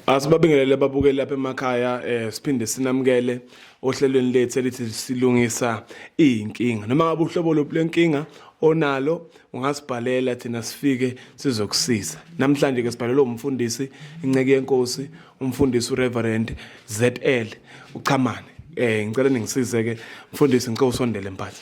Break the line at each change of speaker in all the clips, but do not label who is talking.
Asibabingelele babukeli lapha emakhaya eh siphinde sinamukele ohlelweni lethu elithi silungisa izinkinga noma ngabe uhlobo loplenkinga onalo ungasibhalela thina sifike sizokusiza namhlanje ke sibhalelwe umfundisi inceke yenkosi umfundisi uReverend ZL uchamane eh ngicela ningisize ke mfundisi ngicela usondele mphathi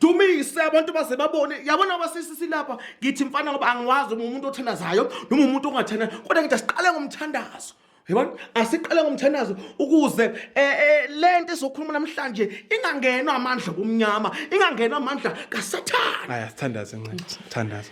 dumise abantu baze babone yabona basisi silapha ngithi mfana ngoba angiwazi uma umuntu othandazayo noma umuntu ongathanda kodwa ngithi asiqale ngomthandazo yabona asiqale ngomthandazo ukuze eh, eh, le nto esokhuluma namhlanje ingangenwa amandla kumnyama ingangenwa amandla kasathane aya sithandaze ncedo
sithandaze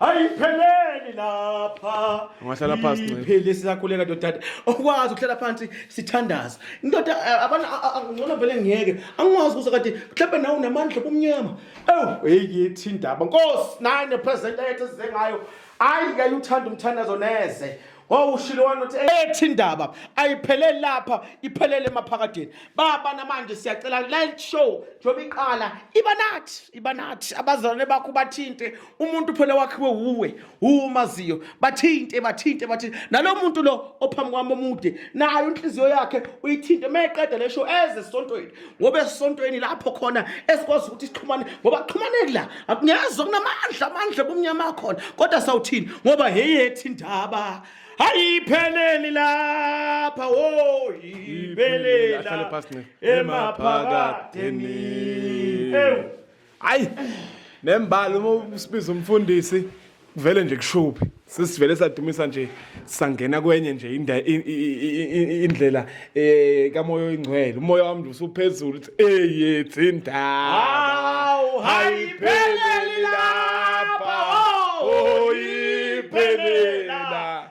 ayipheleli lapha Ungahlala phansi, Nceba.
iphele sisakhuleka ndodade
okwazi ukuhlala phansi sithandaza indoda eh, abana a- a- a- ngcono vele ngiyeke angikwazi kuze kade mhlawumbe nawe unamandla kumnyama ewu heyi yethi indaba nkosi naye nepresident ayethe size ngayo ayi kayuthanda umthandazo neze Oh ushilo wani uthi ethi indaba ayipheleli lapha iphelele emaphakadeni. Baba namanje siyacela live show njoba iqala iba nathi iba nathi abazalwane bakho bathinte umuntu phela wakhiwe wuwe umaziyo bathinte bathinte bathinte nalomuntu lo ophambi kwami omude nayo inhliziyo yakhe uyithinte meqeda le show eze sontweni ngoba esontweni lapho khona esikwazi ukuthi sixhumane ngoba kuxhumaneki la akungezwa kunamandla amandla bomnyama akhona kodwa sawuthini ngoba heyethi indaba ayipheleli lapha woyiphelela emaphakadeni ewu
hayi nembali uma usibiza umfundisi kuvele nje kushuphi sisivele sadumisa nje sangena kwenye nje inda- i- i- i- i- indlela eh kamoya oyingcwele umoya wami nje usuphezulu uthi eyethi indaba Hawu, hayipheleli
lapha, oh, oh, iphelela.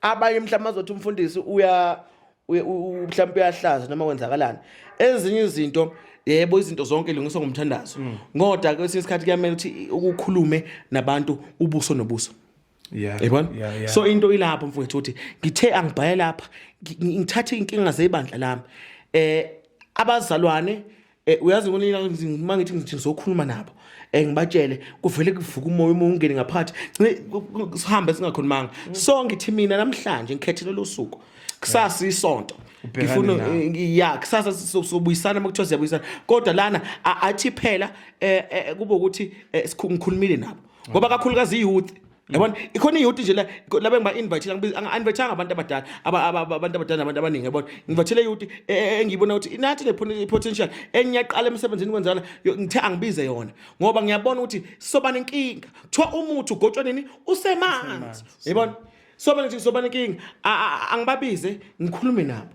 abanye mhlawumbe azothi umfundisi uya mhlawumbe uyahlaza noma kwenzakalani ezinye izinto yebo izinto zonke lungiswa ngomthandazo mm. ngoda kwesinye isikhathi kuyamele ukuthi ukukhulume nabantu ubuso nobuso yeah yabona yeah, yeah. so into ilapho mfowethu uthi ngithe angibhaya lapha ngithathe inkinga zebandla lami eh abazalwane Eh uyazi ngonina mangithi ngithi ngizokhuluma nabo. Eh ngibatshele kuvele kuvuka umoya uma ungene ngaphathi. Ngci sihambe singakhulumanga. So ngithi mina namhlanje ngikhethele lo suku. Kusasa isonto. Ubhekane Ngifuna nawo. eh, ya kusasa so- sobuyisana uma kuthiwa siyabuyisana. Kodwa lana a- athi phela eh eh, kube ukuthi eh, sikhu- ngikhulumile nabo. Ngoba kakhulukazi youth yabona ikhona iyoti nje la la bengiba invite la invite abantu abadala abantu abadala abantu abaningi yabona ngivathele iyoti e, e, e, engiyibona ukuthi inathi le potential enyaqala emsebenzini kwenzala ngithe angibize yona ngoba ngiyabona ukuthi sobana inkinga kuthiwa umuthi ugotshwa nini usemanzi yabona sobana nje sobana inkinga angibabize ngikhulume nabo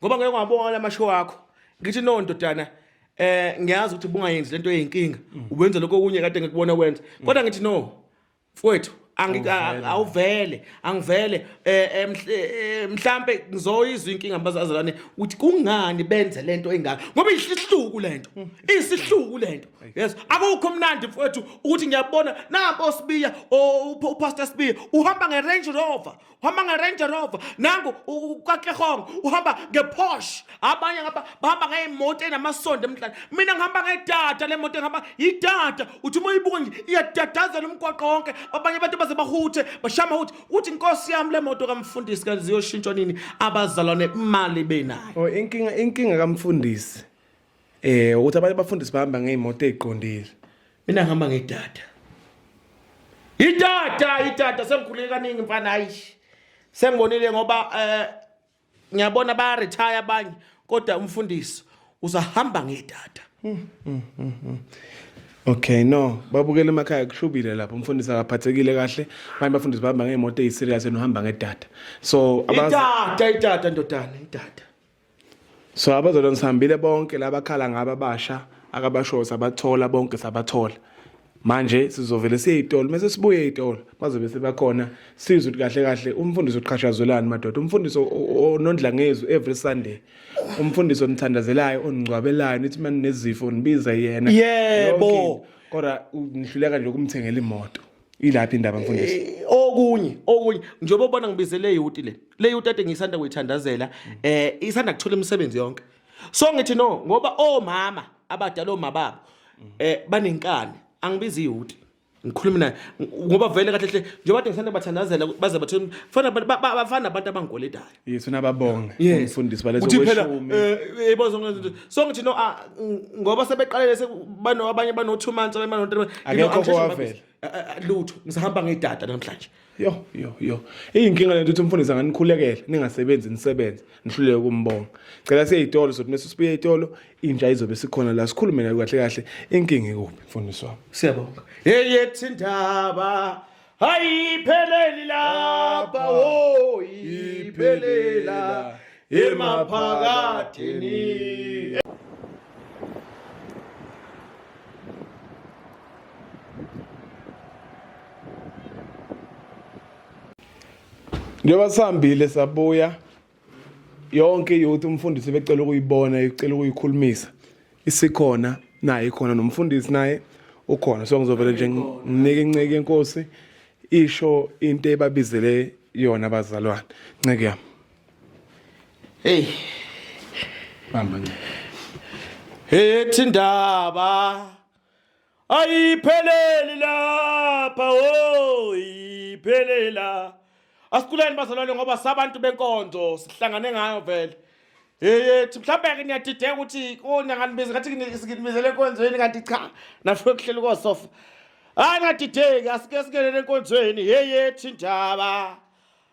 ngoba ngeke wabona amashow akho ngithi no ndodana eh ngiyazi ukuthi bungayenzi lento eyinkinga mm. ubenza lokho okunye kade ngikubona kwenza mm. kodwa ngithi no mfowethu awuvele angivele eh, eh, eh, mhlambe ngizoyizwa inkinga bazazalwane ukuthi kungani benze lento engaka ngoba isihluku lento mm. isihluku lento yes akukho mnandi mfowethu ukuthi ngiyabona nampo sibiya upastor sibiya uhamba ngerange rover uhamba nge-range rover nangu ukaklehong uhamba nge-posh abanye ngaba bahamba ngey'moto enamasondo emhlane mina ngihamba ngedata le moto engihamba yidata uthi uma uyibuka nje iyadadazela umgwaqo wonke abanye abantu baze bahuthe bashama ukuthi uthi nkosi yami le moto kamfundisi kanti ziyoshintshwa nini abazalwane imali benayo oh, inkinga inkinga
kamfundisi Eh ukuthi abanye abafundisi bahamba ngeemoto eziqondile. Mina ngihamba
ngedata. Idata, idata sengikhuleke kaningi mfana hayi. Sengibonile ngoba eh ngiyabona ba retire abanye kodwa umfundisi usahamba ngedata. Hmm, hmm,
hmm, Okay no babukele emakhaya kushubile lapho umfundisi akaphathekile kahle abanye bafundisi bahamba ngeemoto eziserious nohamba ngedata so idata idata
ndodana idata
so abazalwane sihambile bonke labakhala ngaba basha akabashoyo sabathola bonke sabathola manje sizovele siye itolo mase sibuye itolo bazobe sebakhona sizwe ukuthi kahle kahle umfundisi uqhashazwelani madoda umfundisi onondla ngezwi every sunday umfundisi onithandazelayo oningcwabelayo nithi mani nezifo nibiza yena yebo
kodwa
nihluleka nje ukumthengela imoto ilaphi indaba mfundisi eh, okunye
okunye njengoba ubona ngibizele yuti le le yuti ade ngisanda kuyithandazela eh isanda kuthola imisebenzi yonke so ngithi no ngoba omama abadala omababo eh banenkani angibizi yuti ngikhuluma naye ngoba vele kahle hle njengoba ade ngisanda bathandazela baze bathole fana bafana abantu abangigoletayo Yesu nababonga
Yes. umfundisi balethwa Ukuthi phela kweshumi. eh,
eh, yebo zonke lezinto. So ngithi no ah, ng- ngoba sebeqalele sekubano abanye bano 2 months abanye bano 3 months. You know, Akekho I'm just- owavela.
Ah, ah, ah, Lutho
ngisahamba ngedata namhlanje. Yo yo yo.
Iyinkinga lento ukuthi umfundisi anganikhulekela ningasebenzi nisebenze nihluleke ukumbonga. Cela siye itolo sothi mase sibuye itolo inja izobe sikhona la sikhulume nayo kahle kahle inkinga ikuphi mfundisi wami. Siyabonga. Hey
yethi indaba ayipheleli lapha wo iphelela emaphakathini njengoba
sihambile sabuya yonke youth umfundisi becela ukuyibona icela ukuyikhulumisa isikhona naye ikhona nomfundisi naye ukhona so ngizovele nje nginike inceke inkosi isho into ebabizele yona abazalwane nceke yami hey bamba nje
ethi ndaba ayipheleli lapha o iphelela asiculeni bazalwane ngoba sabantu benkonzo sihlangane ngayo vele yeyethi mhlawumbe-ke niyadideka ukuthi onyanganibizi ngathi nginibizele enkonzweni kanti cha nafike kuhlela ukosofa hayi ngadideki asike sikelele enkonzweni yeyethi ndaba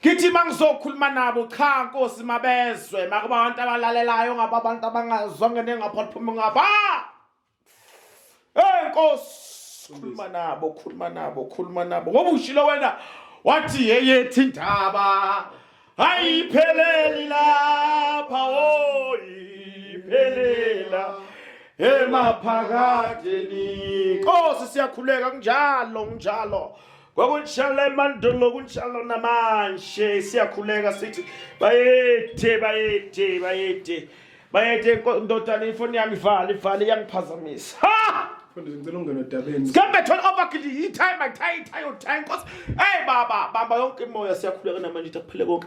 Ngithi mangizokhuluma nabo cha nkosi mabezwe makuba abantu abalalelayo ngaba abantu abangazwa ngene ngapha liphuma ngapha. Hey nkosi khuluma nabo khuluma nabo khuluma nabo ngoba ushilo wena wathi yeyethi indaba ayipheleli lapha oh iphelela emaphakadeni nkosi siyakhuleka kunjalo kunjalo kwakunjalo emandulo kunjalo namanje siyakhuleka sithi bayede bayede bayede bayede ndodana ifoni yami ivale ivale iyangiphazamisa ha mfundisi
ngicela ungena odabeni sikambe thola obakili
yithayi mathayi thayi othayi nkosi eyi baba bamba yonke imoya siyakhuleka namanje ukuthi akuphile konke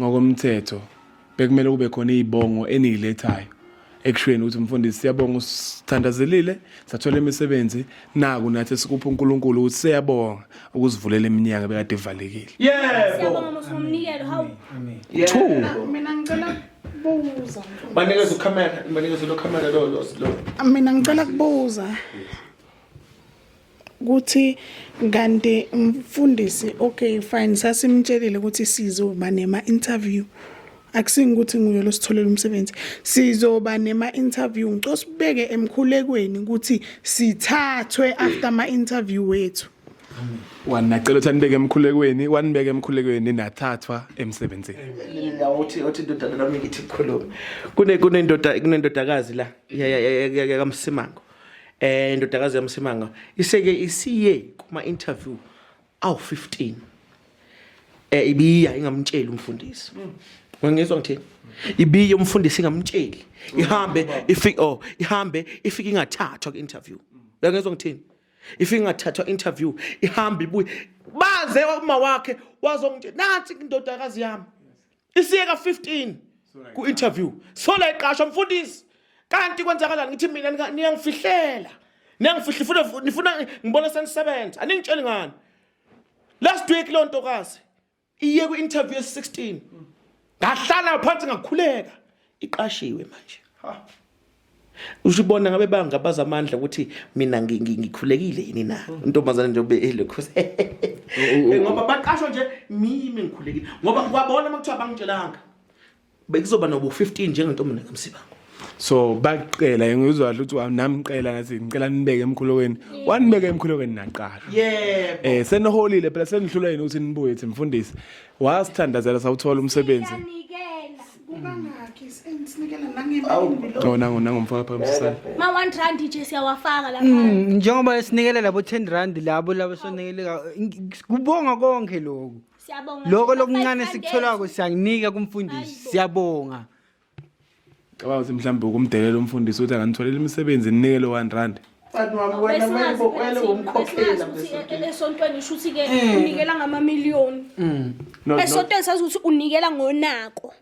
Ngokomthetho bekumele kube khona izibongo eniyilethayo ekushweni ukuthi mfundisi siyabonga usithandazelile sathola imisebenzi naku nathi sikupha uNkulunkulu ukuthi siyabonga ukusivulela iminyaka bekade ivalekile yebo siyabonga
mosomnikelo hawu two
mina ngicela kubuza banikeza ucamera
banikeza lo camera lo lo mina ngicela
kubuza ukuthi kanti mfundisi okay fine sasimtshelile ukuthi sizoba nema-interview akusingi ukuthi nguye lositholela umsebenzi sizoba nema-interview ngicela sibeke emkhulekweni ukuthi sithathwe after ama-interview wethu wanacela
ukuthi anibeke emkhulekweni wanibeka emkhulekweni nathathwa emsebenzini uthi
uthi indodana lami ngithi khuluma kunendoda kunendodakazi la yakamsimango eh indodakazi yamsimanga iseke isiye kuma interview awu 15 eh ibiya ingamtsheli umfundisi mm. ngangizwa ngithini ibiye umfundisi ingamtsheli mm. ihambe ifika oh ihambe ifika ingathathwa ku interview mm. ngangizwa ngithini ifika ingathathwa interview ihambe ibuye baze uma wakhe wazongitshela nathi indodakazi yami isiyeka 15 ku interview sola iqashwa mfundisi kanti kwenzakalani ngithi mina niyangifihlela niyangifihla funa nifuna ngibona senisebenza aningitsheli ngani last week lo ntokazi iye ku interview ye 16 ngahlala phansi ngakhuleka iqashiwe manje ha ushibona ngabe bangabaza amandla ukuthi mina ngikhulekile yini na mm. intombazane nje ube elokho eh, ngoba baqashwa nje mimi ngikhulekile ngoba kwabona makuthiwa bangitshelanga bekuzoba nobu 15 njengentombazane kamsibango so
baqela ngizwa ukuthi namqela ngathi ngicela nibeke emkhulokweni wanibeke emkhulokweni naqasha yebo eh
seniholile phela
senihlula yini ukuthi nibuye ethi mfundisi wasithandazela sawuthola umsebenzi
Oh, nangu nangu mfaka phambi
sisana. Ma 1 rand nje
siyawafaka lapha. Mm, njengoba esinikele
labo 10 rand labo labo sonikele kubonga konke lokho. Siyabonga. Lokho
lokuncane
sikutholako siyakunika kumfundisi. Siyabonga.
Cabanga ukuthi mhlawumbe ukumdelela umfundisi uthi anganitholela imisebenzi ninikele 1 rand. Mfana wami wena manje
bokwele umkhokhela besontweni. Esontweni
usho ukuthi ke eh. unikela ngama million. Mm. Esontweni sazi ukuthi unikela ngonako.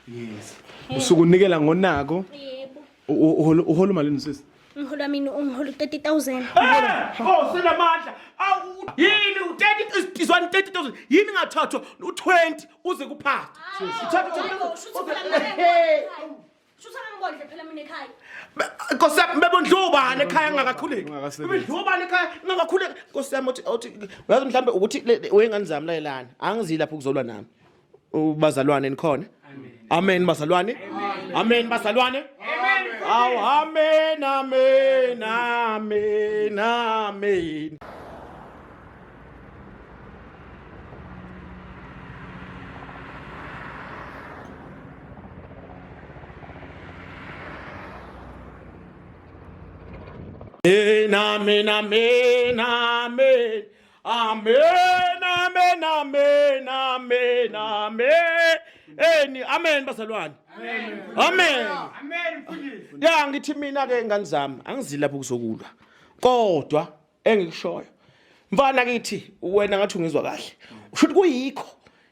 Yes.
Eh. Usuku unikela ngonako. Yebo.
Uholo uholo malini sisi?
Umholo wami ungihola
30000. Oh,
sinamandla. Awu yini u30 izwani 30000 yini ngathathwa u20 uze kuphatha. Uthatha
30000. Nkosi yami
bebondliwa ubani ekhaya ngakakhuleki. Bebondliwa ubani ekhaya ngakakhuleki. Nkosi yami uthi uthi uyazi mhlambe ukuthi wengane zami layelana. Angizile lapho kuzolwa nami. Ubazalwane nikhona? Amen bazalwane. Amen bazalwane. Aw amen amen amen amen. Amen, amen, amen, amen. Amen, amen, amen, amen, amen. Eni, amen bazalwane. Amen. Amen. Amen mfundisi. Ya ngithi mina ke ngani zami angizilapha ukuzokulwa. Kodwa engikushoyo mfana kithi wena ngathi ungizwa kahle usho ukuthi kuyikho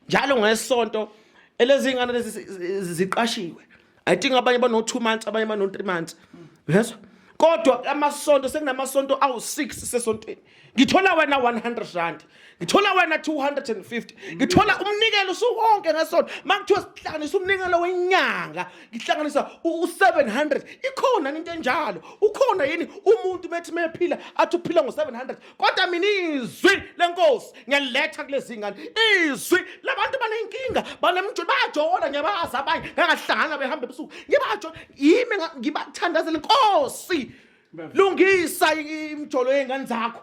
njalo ngesonto elezingane lezi ziqashiwe i think abanye bano 2 months abanye bano 3 months yezwa kodwa amasonto sekunamasonto awu6 sesontweni ngithola wena 100 rand ngithola wena 250 ngithola umnikelo usuwonke ngesonto makuthiwa sihlanganisa umnikelo wenyanga ngihlanganisa u700 ikhona into enjalo ukhona yini umuntu bethi mephila athi uphila ngo700 kodwa mina izwi lenkosi ngiyaletha kulezi ngane izwi labantu banenkinga banemjolo bayajola ngiyabazi abanye ngangahlangana behamba ebusuku ngibajola yimi ngibathandazela inkosi lungisa imjolo yengane zakho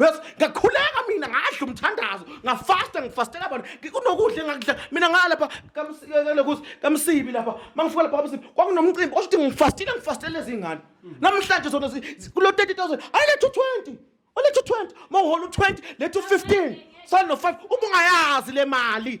Yes, ngakhuleka mina ngadla umthandazo, ngafasta ngifastela abantu. Kunokudla engakudla mina ngalapha kamsikele kusi kamsibi lapha. Mangifuka lapha kamsibi kwakunomcimbi osho ukuthi ngifastile ngifastele izingane. Namhlanje zona zi- kulo 30000 ayilethe u20. Olethe u20, mawuhola u20, lethe u15. Sale no5 uma ungayazi le mali.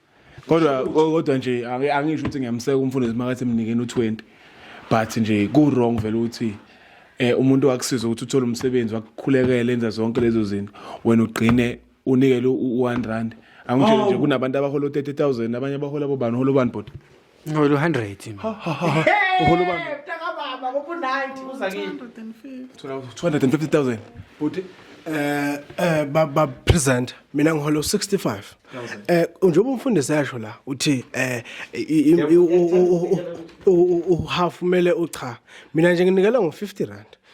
kodwa kodwa
nje angisho ukuthi ngiyamseka umfundisi makathi emnikeni u20 but nje ku wrong vele ukuthi eh umuntu wakusiza ukuthi uthole umsebenzi wakukhulekela enza zonke lezo zinto wena ugcine unikele u1 rand angisho nje oh. kunabantu abahola u30000 abanye abahola bobani hola ubani bot Ngolo 100. Ha ha
ha. ha. Uholo
bami. Eh, mtaka baba ngoku 90 uza
kini. 250,000.
Buti
eh eh ba ba present mina ngiholo 65. Eh njengoba umfundisi yasho la uthi eh i- i- i- u- u- u- u- u- half mele ucha. Mina nje nginikela ngo 50 rand.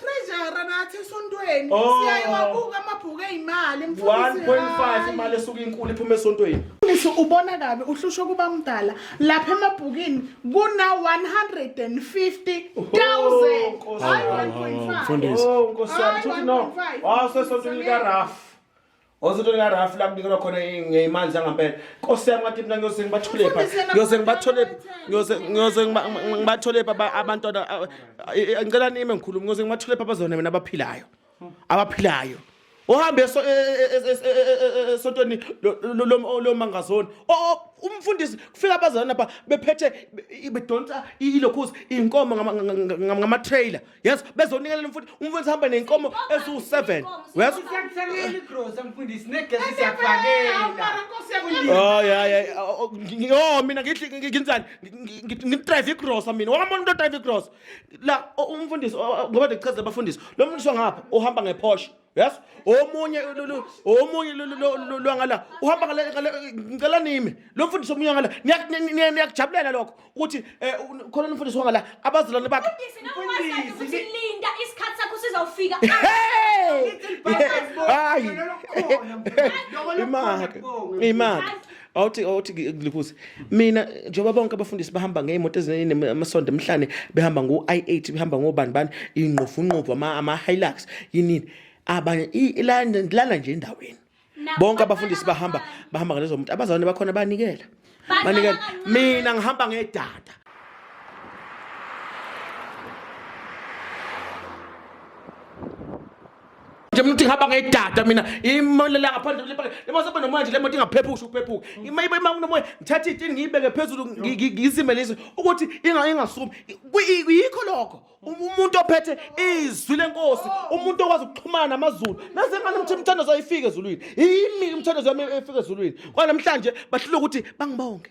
treasure
nathi esontweni oh. siyayiwabuka amabhuku eyimali 1.5
imali esuka inkulu iphuma esontweni Mfundisi ubona kabi
uhlushwa kuba mdala lapha emabhukini kuna 150,000 hayi 1.5 mfundisi oh nkosiyami
futhi no
wasesontweni lika Raf Ozothi lika Rafi la kubikelwa khona ngeyimali zangampela. Nkosi yami ngathi mina ngiyose ngibathole pha. Ngiyose ngibathole ngiyose ngiyose ngibathole pha abantwana ngicela nime ngikhuluma ngiyose ngibathole pha bazona mina abaphilayo. Abaphilayo. Uhambe so sontweni lo mangazoni. Umfundisi kufika abazana pha bephethe bedonsa ilokhuzi inkomo ngama trailer. yazi bezonikelela mfundi umfundisi hamba nenkomo
eziwu-seven yazi
o mina nginjani ngidrayive igrosa mina wamona umuntu odrayive igrosa la umfundisi ngoba ndichazela abafundisi lo mfundisi wangapha uhamba ngephosha yazi omunye omunye lwangala uhamba ngicela nime lo mfundisi omunye wangala niyakujabulela lokho ukuthi um khona nomfundisi wangala abazalwane bakhe
linda isikhathi sakho sizawufika
hayi imake imake awuthi awuthi ngilikuze mina njengoba bonke abafundisi bahamba ngeyimoto ezinamasondo emhlane behamba ngo i8 behamba ngobani bani ingqofu ngqofu ama ama Hilux yini abanye ilanda ngilala nje endaweni bonke abafundisi bahamba bahamba ngalezo muntu abazalwane bakhona banikela banikela mina ngihamba ngedada nje mntu ihamba ngedata mina imalela ngaphandle kule pake le masobe nomoya nje le moto ingaphephuki usho ukuphephuka ima iba ima kunomoya ngithatha itini ngiyibeke phezulu ngi- ngi- ngizimelise ukuthi inga ingasumi Kuyi- yikho lokho Um- umuntu ophethe izwi lenkosi umuntu okwazi ukuxhumana namazulu naze ngani mthi umthandazo ayifike ezulwini yimi umthandazo yami efike ezulwini kwanamhlanje bahlula ukuthi bangibonge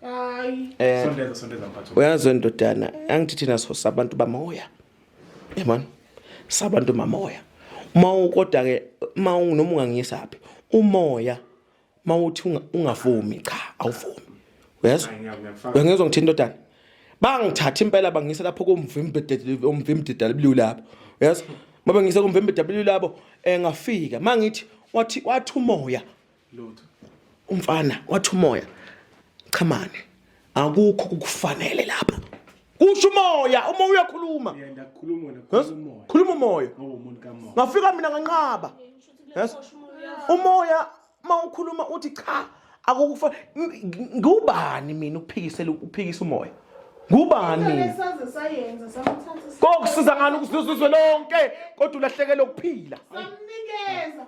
hayi eh
sondeza sondeza mphathi
uyazi ndodana
angithi thina sosa abantu bamoya yabona sabantu mamoya uma ukoda ke uma noma ungangiyisa phi umoya uma uthi ungavumi cha awuvumi uyezwa uyangizwa ngithini ndodana bangithatha impela bangisa lapho komvimbededele omvimbededele blue lapho uyezwa mabengisa komvimbededele blue lapho engafika eh, mangithi wathi wathi umoya
lutho umfana
wathi umoya chamane akukho kukufanele lapha kusho umoya uma uyakhuluma yenda khuluma wena
Yes? khuluma umoya khuluma
umoya ngoba umuntu kamoya ngafika
mina nganqaba
Yes? umoya uma ukhuluma uthi cha akukufa ng- ng- ngubani mina ukuphikisela ukuphikisa umoya ngubani mina Saze
sayenza samthatha kokusiza ngani
ukusizwe lonke kodwa ulahlekelwe ukuphila samnikeza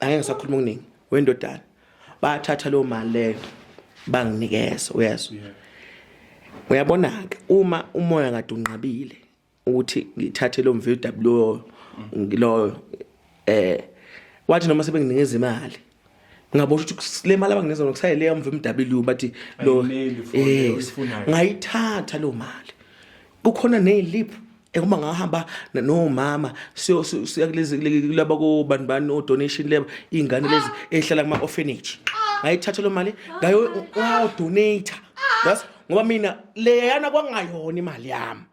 angeke ngisakhuluma okuningi wendodana bathatha loo mali leyo banginikeza uyezwa uyabona-ke uma umoya kade unqabile ukuthi ngithathe lo mvw loyo ngiloyo eh wathi noma sebenginikeza imali ngabona ukuthi le mali abanginikeza yona kusayele yamva emw bathi lo eh ngayithatha lo mali kukhona nezilip ekuma ngahamba nomama siyo siya kulezi kulaba ko bantu bani o donation leba izingane lezi ehlala kuma orphanage ngayithatha lo mali ngayo o donate yes ngoba mina leyana kwangayona imali yami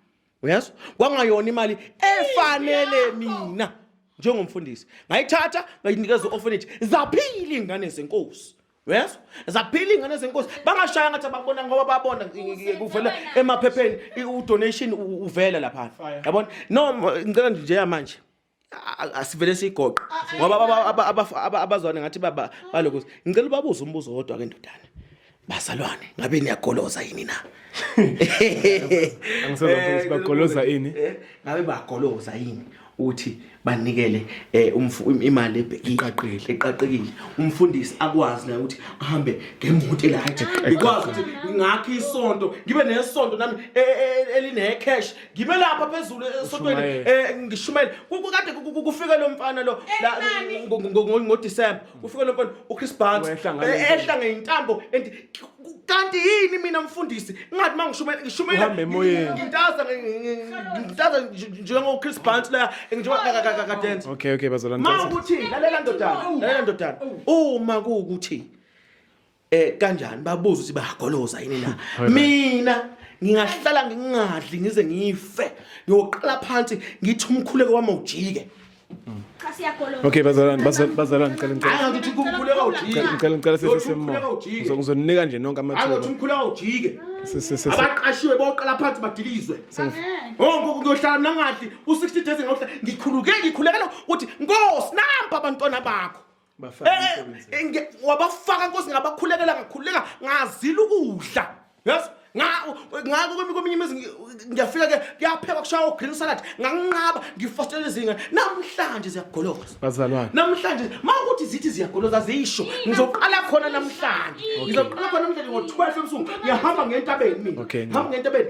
yes kwangayona imali efanele mina njengomfundisi ngayithatha ngayinikeza u-orphanage zaphila iy'ngane zenkosi uyezwa zaphila iy'ngane zenkosi bangashaya ngathi abakubona ngoba babona kuvela emaphepheni i- udonation u- uvela laphana Fire. yabona no m- ngicela nje njeya manje a- a- asivele siyigoqe ngoba aba- aba- aba- aba- abazwane ngathi baba- balokuthi ngicela ubabuze umbuzo wodwa ke ndodana bazalwane ngabe niyagoloza yini na Angisoze
ngifike ukuthi bagoloza ini. Eh, ngabe bagoloza
yini ukuthi banikele eh imali eqaqile eqaqekile umfundisi akwazi naye ukuthi ahambe ngemoto elight ikwazi ukuthi ngakhe isonto ngibe nesonto nami e, e, e, eline cash ngibe lapha phezulu esontweni eh, ngishumele kukade kufike lo mfana lo ngo December kufike lo mfana uChris Banks ehla ngeintambo and kanti yini mina mfundisi ngathi mangishumayela ngishumayela Uhambe emoyeni.
ngintaza ngi- ngi-
ngi- ngintaza nj- njengo Chris Barnes la njengoba ka- ka- ka- ka- dance okay okay bazalwane ma that's it.
ukuthi lalela
ndodana lalela ndodana uma kuwukuthi eh kanjani babuza ukuthi bayagoloza yini na mina ngingahlala ngingadli ngize ngife ngiyoqala phansi ngithi umkhuleko wami ujike
Okay bazalwane bazalwane ngicela ngicela. Hayi ngithi kumkhuleka
ujike. Ngicela ngicela sithi semmo.
Ngizoninika nje nonke amathuba. Hayi ngithi umkhuleka
ujike. Abaqashiwe boqala phansi badilizwe. Wonke oh, kuyohlala mina ngadli u60 days ngokuhlala ngikhuluke ngikhulekela ukuthi Nkosi nampa abantwana bakho. Eh, eh, wabafaka nkosi ngabakhulekela ngakhuleka ngazila ukudla yes ngako kweminye imizi ngiyafika ke kuyaphekwa kushaya o-green salad nganginqaba ngifostela izinga namhlanje ziyagoloza bazalwane namhlanje
ma ukuthi
zithi ziyagoloza ziyisho ngizoqala khona namhlanje ngizoqala khona namhlanje ngo-twelve ebusuku ngiyahamba ngentabeni mina hamba ngentabeni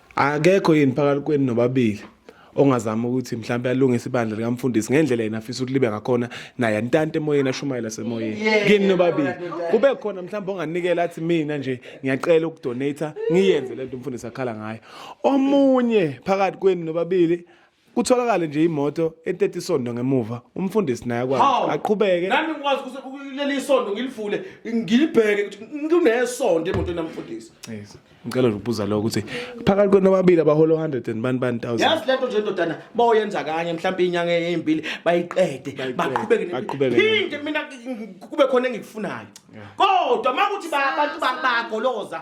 akekho yini phakathi kwenu nobabili ongazama ukuthi mhlawumbe alungise ibandla likamfundisi ngendlela yena afisa ukuthi libe ngakhona naye antante emoyeni ashumayela semoyeni kini nobabili kube khona mhlawumbe onganikela athi mina nje ngiyacela ukudonata ngiyenze lento umfundisi akhala ngayo omunye phakathi kwenu nobabili Kutholakale nje imoto entethe isondo ngemuva umfundisi naye akwazi Hawu. aqhubeke nami ngikwazi ukuthi
kuleli isondo ngilivule ngilibheke ukuthi kunesondo emotweni yamfundisi Yes. ngicela nje
ukubuza lokho ukuthi phakathi kwenu ababili abaholo 100 and bani bani thousand yazi lento nje ndodana
boyenza kanye mhlawumbe inyanga eyimbili bayiqede Bayiqede, baqhubeke ne- baqhubeke
ne- phinde mina
ngi- ngi- kube khona engikufunayo kodwa makuthi ba- abantu ba- bagoloza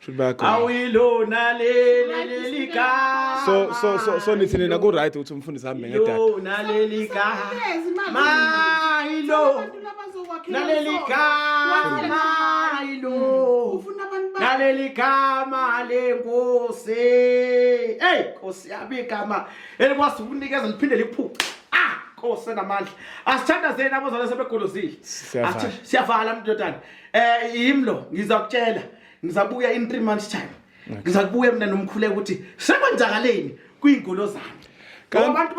Shuthi bayakhona.
awuyilona
leli leli gama So so so so nithi
nina ku right ukuthi umfundisi ahambe ngedata. ilona leli gama
Sezi imali. mayilo Abantu abazokwakhela naleli umsoco. gama Wakhele mayilo Ufuna abantu ba- naleli gama lenkosi eyi nkosi yami igama elikwazi ukunikeza liphinde liphuce ah nkosi enamandla asithandazeni abazalwane sebegolozile Siyavala. Athi- siyavala mntotana um yimlo ngizakutshela ngizabuya in 3 months time ngizakubuya mina nomkhule ukuthi sekwenzakaleni kwiingolo zami ngoba abantu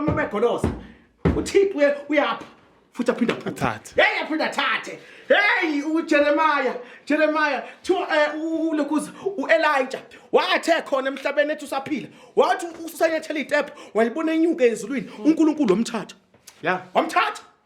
babegolosa uthixo uyapha futhi aphinde aphathe hey aphinde
athathe
hey uJeremiah Jeremiah to eh, ulokuza uElijah wathe khona emhlabeni ethi usaphila wathi usanyathela iTep walibona inyuke ezulwini uNkulunkulu omthatha ya wamthatha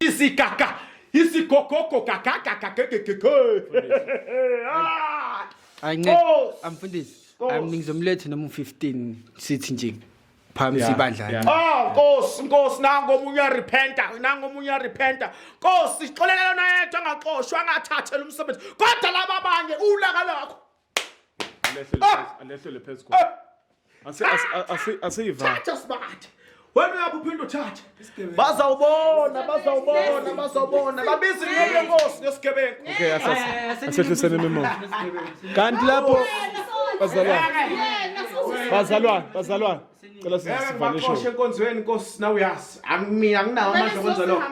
Isi kaka, isi kokoko kaka kaka kaka kaka.
Ayincede. Amfundisi. Ngizomlethe noma u-15 sithi nje. phamsi Yeah, ibandla yeah. Oh Nkosi
Nkosi nango
omunye uyarepenta nango omunye uyarepenta Nkosi sixolela lona yedwa angaxoshwa angathathela umsebenzi kodwa laba abanye ulaka lakho Alehlele Ah! phezu-
alehlele phezu Eh, kwakho. Asi- asi- asi- Asiyiva. thatha sibathe
wena uyabe uphinde uthathe bazawubona bazawubona bazawubona babiza inqobo yenkosi ngesigebengu okay eh, asase
eh, asehlisene imimoya kanti lapho bazalwane bazalwane bazalwane cela sivale show enkonzweni
inkosi
nawe
yazi angimina anginawo amandla okwenza lokho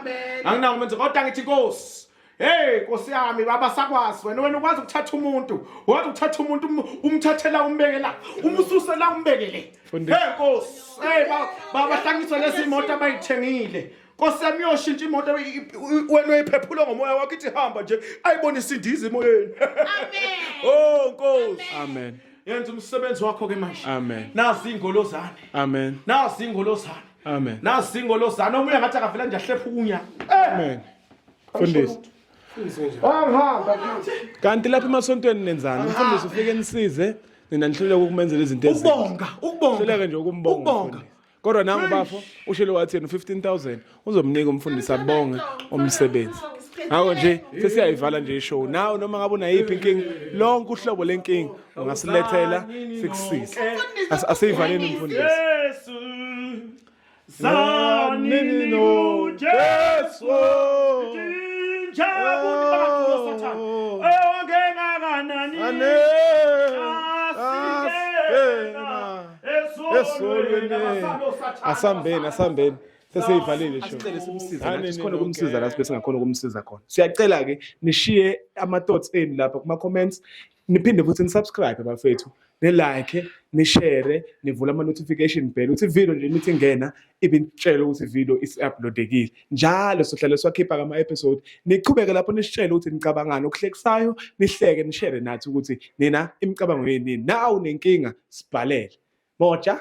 anginawo amandla kodwa ngithi inkosi Hey Nkosi yami baba sakwazi wena wena ukwazi ukuthatha umuntu wazi ukuthatha umuntu um, umthathela umbekela umususela umbekele Hey Nkosi hey baba hlangiswa lezi imoto abayithengile Nkosi yami uyoshintsha imoto wena uyiphephula ngomoya wakho ithi hamba nje ayibone isindiza emoyeni Amen Oh Nkosi Amen yenza
umsebenzi
wakho ke manje amen nazi
ingolozane
amen nazi
ingolozane amen nazi
ingolozane omunye ngathi akavela nje ahlepha ukunya amen
Fundisi.
Angihamba. Kanti
lapha emasontweni nenzani? Mfundisi ufike nisize nina nihluleka ukumenzela izinto ezinhle. Ukubonga, ukubonga. Hluleka nje ukumbonga. Ukubonga. Kodwa nangu bafo ushilo wathi yena 15000 uzomnika umfundisi abonge umsebenzi. Hawo nje sesiyayivala nje ishow. Nawe noma ngabe unayiphi inkinga, lonke uhlobo lenkinga ungasilethela sikusize. Asiyivaleni umfundisi. Yesu
Saninu Jesu Jinjabu Bakuro Satan Eonge Naganani Ane
Asambeni asambeni seseyivhalile sikhona ukumsiza la sibe singakhona ukumsiza khona siyacela-ke nishiye ama-thoughts enu lapha kuma-comments niphinde futhi nisubscribe bafethu nilike nishare nivule ama-notification bell ukuthi ividiyo nje imithi ingena ibinitshele ukuthi ividiyo isi-uploadekile njalo sohlale siwakhipha kama-episode niqhubeke lapho nisitshele ukuthi nicabangani okuhlekisayo nihleke nishere nathi ukuthi nina imicabango yenini nawu nenkinga sibhalele moja